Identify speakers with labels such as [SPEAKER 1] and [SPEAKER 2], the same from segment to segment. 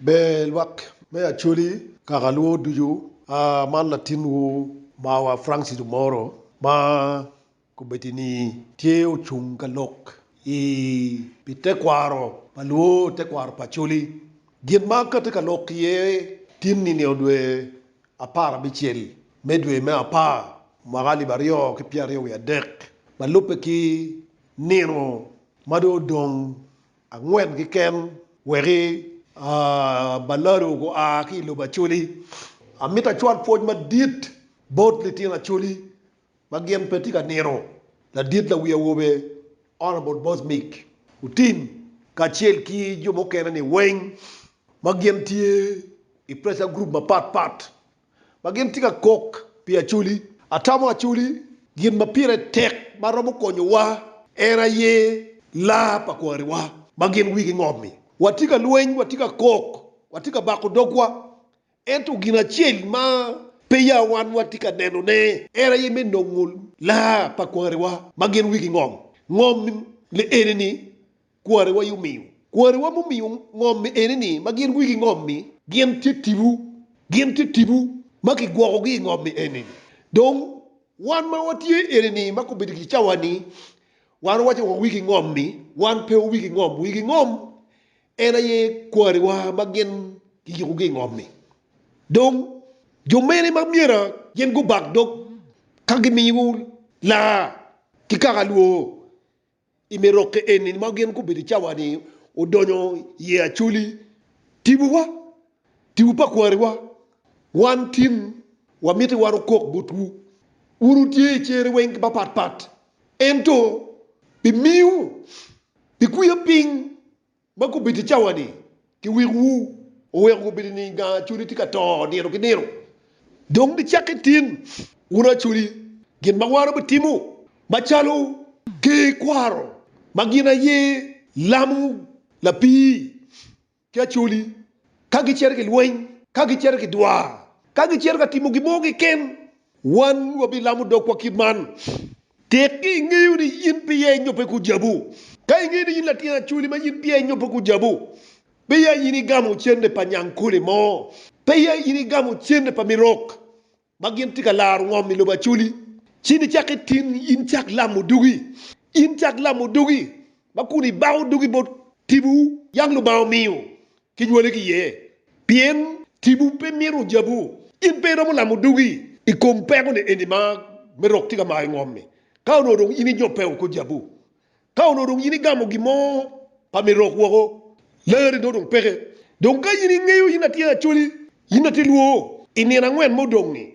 [SPEAKER 1] Ber lwak me Acholi kaka lwor ducu a man latin wu mawa Francis Omoro ma komiti ni tye ocung ka lok i pi tekwaro pa lwor tekwaro pa Acholi gin ma ka tye ka lok iye tin ni nio dwe apar abicel me dwe me apar mwaka alip aryo ki pyeraryo wiye adek ma lubbe ki nino ma dong odong angwen keken weki a balado gua ki i lobo Acholi. Amito acwal pwoc madit bot litino Acholi ma gin pe tye ka nino, Ladit Lawi Awobe Honourable Boss Mick Otim kacel ki jo mukene ni weng ma gin tye i pressure group mapat pat ma gin tye ka kok pi Acoli. Atamo Acoli, gin ma pire tek ma romo konyowa en aye laa pa kwariwa ma gin wigi ngom-mi. Watye ka lweny, watye ka kok, watye ka bako dogwa, ento gin acel ma peya wan watye ka nenone en aye me nongo laa pa kwariwa ma gin wigi ngom. Ngom-mi enini. Kwarewa omiyo. Kwarewa mumiyo ngom-mi eni ni ma gin wigi ngom-mi. Gin tye tipo. Gin tye tipo ma kigwokogi i ngom-mi eni. Dong, wan ma watye eni ni ma kobedo ki cawa-ni, wan wawaco wa wigi ngom-mi. Wan pe wa wigi ngom. Wigi ngom en aye kwarewa ma gin kiyukogi i ngom-mi. Dong, jo mene ma myera gin gubak dog ka gimiyo laa ki kaka lwor? I me rokke eni ma gin gubedo i cawa-ni, odonyo iye Acholi, tibuwa, tibu pa kwariwa, wan tin, wamiti wan okok botwu. Wun wutye i cere weng mapatpat, ento bimiwu bikwiya piny Ma gubiti i cawa-ni ki wikwu oweko gubiti niing gang acholi tye ka to nino ki nino. Dong gicakki tin wunu acholi gin ma wano bitimo, macalo ker kwaro ma gin aye lamo lapii ki acholi, ka gicito ki lweny, ka gicito ki dwar, ka gicito ka timo gin mo keken. Wan wabilamo dogwa kit man. Tek ni ingeyo ni in pe iye nyo pe kujabu. Ka ingeyo ni in latin acholi ma in pe iye nyo pe kujabu, pe iye in igamo cente pa nyang kole mo. Pe iye in igamo cente pa mirok ma gin tye ka laro ngom i lobo acholi. Ci nicak itin in cak lamo dugi. In cak lamo dugi ma kun ibako dugi bot tibu yang Lubanga omiyo kinywale ki iye. Pien tipo pe mito jabu, in pe iromo lamo dugi i kom pekone eni ma me rok tye ka mayo ngom-mi. Ka onongo dong in inyope woko jabu, ka onongo dong in igamo gin mo pa me rok woko, larri nongo dong peke. Dong ka in ingeyo in atir Acholi, in atir lwor, i nino angwen ma odong-ngi,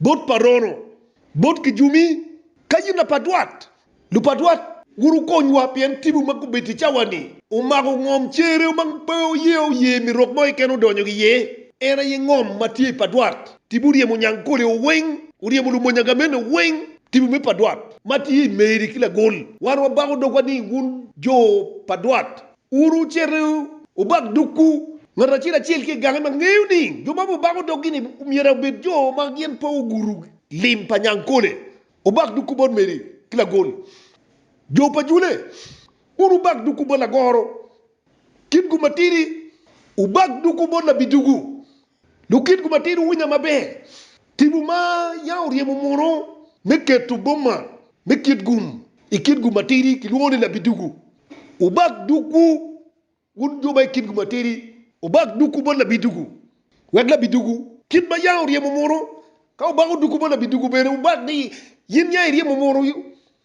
[SPEAKER 1] Bot pa Rono, bot kijumi, kayina pa dwat, lupadwat, wuru konywa pien tibu ma gubedo i cawa-ni omako ngom cere ma pe oye oye mi rok mo keken odonyo iye, en aye ngom ma tye i padwat. Tibu oryemo nyang kolewo weng, oryemo lumony agamene weng, tibu me padwat ma tye i meri ki lagol. Wan wabako dogwa ni wun jo pa dwat, Wun wucito wubak dogwu, ngat acel acel ki i gange ma ngeyo ni jo ma wubako doggi-ni myero obed jo ma gin pe ogudo lim pa nyangkole. Wubak dogwu bot meri ki lagol jo pa jule. Wun wubak dogwu bot lagoro kitgu matidi. Wubak dogwu bot labidugu. Lukitwu matino wuwinya maber, Timwu ma yam oryemo muno me keto boma me kit gum i kit gum matidi kilwongo ni labiduku. Wubak dukwu, wun jo ma i kit gum matidi, wubak dukwu bot labiduku, wek labiduku, kit ma yam oryemo muno, ka wubako dukwu bot labiduku bene wubak ni yin yam iryemo muno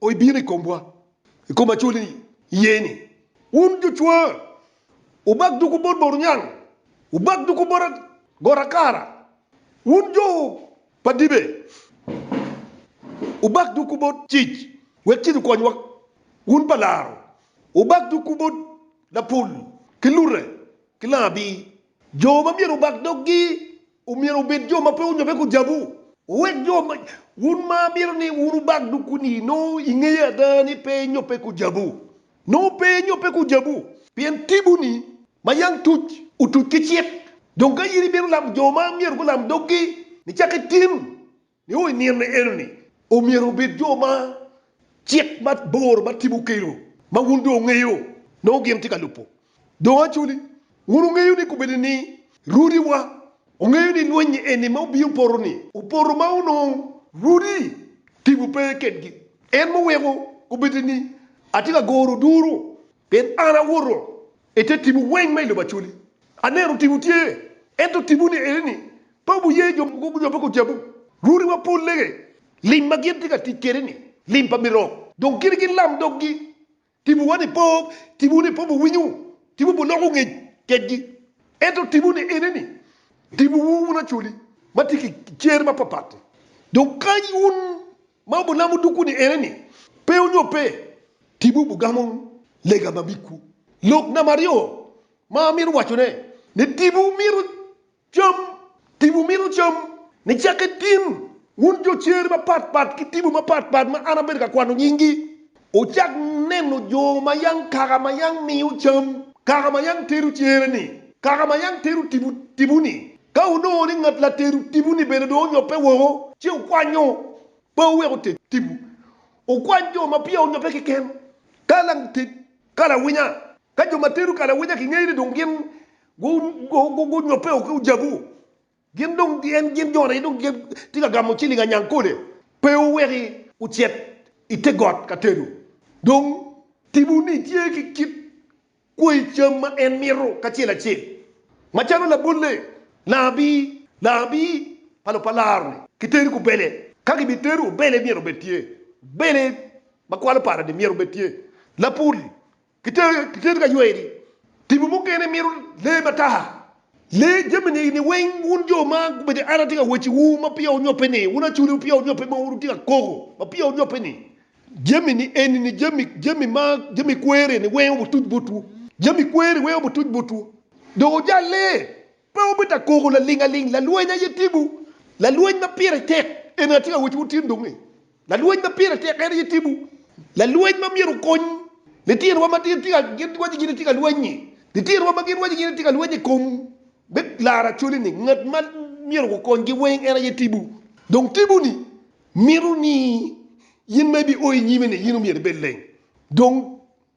[SPEAKER 1] o ibino i komwa, i kom acoli iye ni, Wun jucwa, wubak duku bot bor onyang, wubak duku bot got akara, wun jo pa dibe, wubak duku bot cic, wek cic okonywa, wun pa laro, wubak duku bot lapul ki lute ki langa abir. Jo ma myero wubak doggi omyero obed jo ma pe onyobbe ku jabu. Wuwek jo ma, wun ma mito ni wun wubak doggu-ni, nongo ingeyo ada ni pe inyobbe ku jabu. Nongo pe inyobbe ku jabu, pien tibu-ni ma yam tuc, otuc ki cik. Dong ka in ibino lamo jo ma myero gulam doggi, nicak itim Nio i nino enoni omyero wubed jo ma cik ma bor ma tipo okelo ma wun dong wungeyo nongo gin tye ka lubo. Dong actually wun wungeyo ni kobedi ni Rudi wa ongeyo ni lwenyi eni ma obiyo poto ni opoto ma onongo Rudi tipo pe kedgi en ma oweko kobedi ni atye ka goro duru Pien an awoto i te timwu weng ma i lobo acoli. Aneno timwu tye, ento timwu ni eni-ni, pe wuye jo mogo nyo pe gujabu. Rwodi wa pol lege, lim ma gin tye ka tic kwede-ni, lim pa mirok, dong kit gin lam doggi. Timwu wa ni pe, timwu ni pe wuwinyo, timwu pe oloko ngec kedgi. Ento timwu ni eni-ni, timwu wun acoli ma tye ki cer mapapat-ti, dong kany wun Ma obunamo dukwu ni ene ni, Pe onyo pe, tibu obugamo lega ma bikwu. Lok namba aryo ma amito wacone ni tibu mito cam, tibu mito cam ni cakke tin wun jo cer mapat pat ki tibu mapat pat ma an abedo ka kwano nyinggi. Wucak neno jo ma yang kaka ma yang miyo cam, kaka ma yang tero cere-ni, kaka ma yang tero tipo-ni. Ka wunongo ni ngat latero tipo-ni bene dong onyobbe woko, ci wukwanyo, pe wuwek oter tipo. Wukwany jo ma peya onyobbe keken, ka later kalawinya. Ka jo ma tero kalawinya kingeyo ni dong gin gunyobbe woko ki ojabu, Gin dong gin gin jo aryo dong gitye ka gamo ciling anyang kole. Pe wuweki wucit i te got ka tedo. Dong timwu-ni tye ki kit kwayi cam ma en mito kacel acel, macalo labolle, laabir, laabir pa lobo pa laro-ni, ki teri kubele. Ka gibitero, obele myero obed tye, obele ma kwalo para-ni myero obed tye, lapul Kitedo ka yweri. Tipo mukene mito lee matar. Lee jami ni weng wun jo ma gubedo i Ana tye ka wecci wu ma peya wunyobbe ni, wun acholi peya wunyobbe ma wutye ka koko ma peya wunyobbe ni, jami ni eni ni jami jami ma jami kweri ni weng obutuc botwu. Jami kweri weng obutuc botwu. Dong wujalle. Pe wubita koko laling aling, lalweny aye timwu, lalweny ma pire tek, eni atye ka wacciwu tin dong-ngi, lalweny ma pire tek en aye timwu, lalweny ma myero okony litinowa ma gin waco gin itye ka lweny-nyi, litinowa ma gin waco gin itye ka lweny i kom me laro acwali-ni, ngat ma myero gukonygi weng en aye timwu. Dong timwu-ni mito ni in ma ibi o i nyime-ni in omyero ibed leng, dong.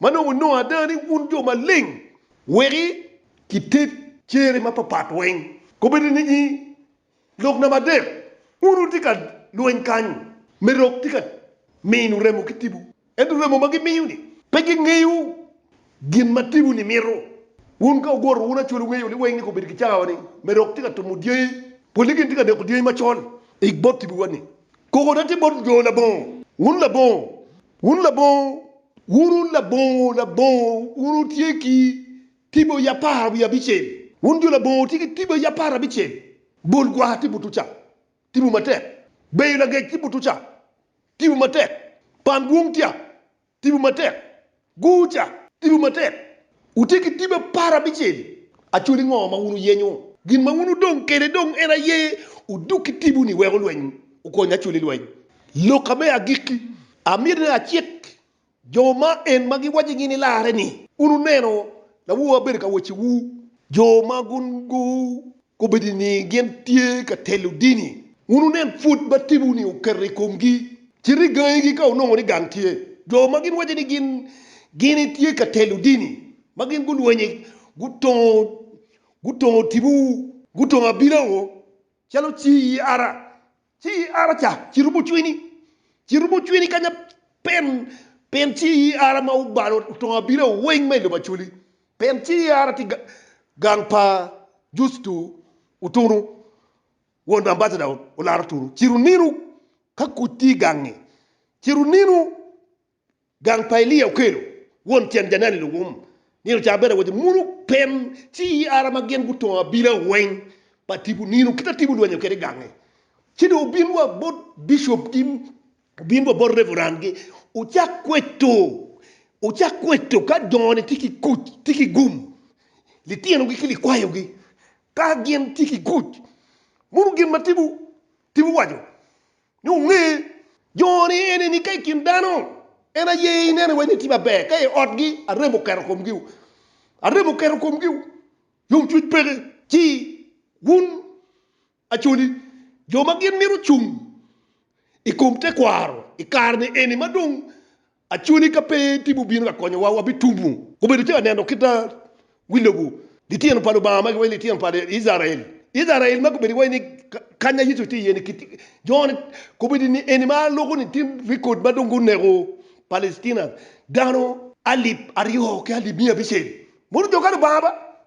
[SPEAKER 1] ma nongo nongo ada ni wun jo maleng, weki kited cere mapapat weng. Kobedo ni i lok namba adek wun wutye ka lweny kany, Merok tye ka mino remo ki tipo, ento remo ma gimiyo-ni pe gingeyo gin ma tipo-ni mito. Wun ka wuguro wun acwel wungeyo ni weng ni kobedo ki cawa ni Merok tye ka tumo dyangi, poli gin tye ka neko dyangi macol ik bot tipo-wa ni, Koko da tye bot jo labongo, wun labongo, wun labongo. Wun un labongo, labongo, wun wutye ki tibo i apar wiye abicel. Wun jo labongo wutye ki tibo i apar abicel. Bol gwar tye butu ca, tibo matek. Beyo lagec tye butu ca, tibo matek. Pan dwong tya, tibo matek. Gur ca, tibo matek. Wutye ki tipo apar abicel. Actually ngo ma wun wuyenyo? Gin ma wun wudong kede dong en aye wuduk ki tipo ni weko lweny okony actually lweny loka me agikki amyero ni acik jo ma en ma gi waci gini larre ni wun wuneno lawowa bedo ka weci wu jo ma gun gu Kombeddi ni gin tye ka telo dini? Wun wunen pud ma timwu-ni oketo i komgi, cit igangigi ka wunongo ni gang tye. Jo ma gin waco ni gin gini tye ka telo dini, ma gin gulwenye gutongo gutongo timwu, gutongo abina-wu calo ci i ara, Ci i ara ca, cito bucwini, cito bucwini kanya, pien, pien ci i ara ma wubalo otongo abila weng ma i lobo acoli, pien ci i ara tye ga, gang pa Justo otunu, won ambasada olaro otunu, cito nino ka kuc tye i gang-ngi, cito nino Gang pa Elia okelo won tyen janeno i luwum nino ca bene woti muno pem ci i ara ma gin gutongo abila weng pa tipo nino kit a tipo lwenyo kede gange ci dong obin wa bot bishop gi obin wa bot reverend gi ocak kweto ocak kweto ka dongo ni tye ki kuc tye ki gum litino gi ki likwayo gi ka gin tye ki kuc muno gin ma tipo Tim owaco ni onge jo ni ene ni ka i kin dano en aye ineno iwaco ni tye maber ka i otgi arem oketo komgi o arem oketo komgi o yom cwiny peke ci wun Acholi jo ma gin mito cung i kom tekwaro i kare ni eni ma dong Aconi ka pe timwu bino ka konyowa, wabitumu. Gubedo calo aneno kit ma wi lobo litino pa Lubanga ma giwaco ni litino pa Icrael. Icrael ma gubedo giwaco ni kanya Yecu tye iye-ni. Kit joni kobedi ni eni ma loko ni tye rekod ma dong guneko Palestina dano alip aryo ki alip miya abicel. Mono jo ka Lubanga ba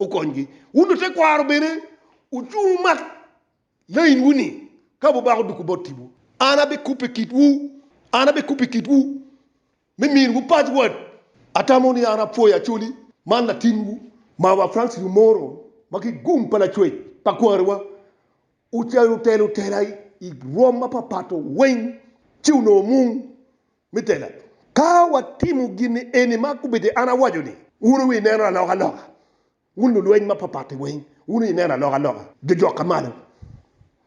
[SPEAKER 1] okonygi. Wun lutekwaro bene wucung wumak lainwu ni, Ka wubako doko bot tipo, an abikubo i kitwu, an abikubo i kitwu me miniwu password. Atamo ni an apwoyo Acholi man latinwu, mawa Francis Omoro ma ki i Gung pa Lacwec pa Kwariwa. Otelo tela i rwom mapapat weng ci onongo mung. me tela. Ka watimo gin eni ma gubedo an awaco-ni, wun wuineno alokaloka, wun lulweny mapatpat-ti weng, wun wuineno alokaloka, jojok ka malo.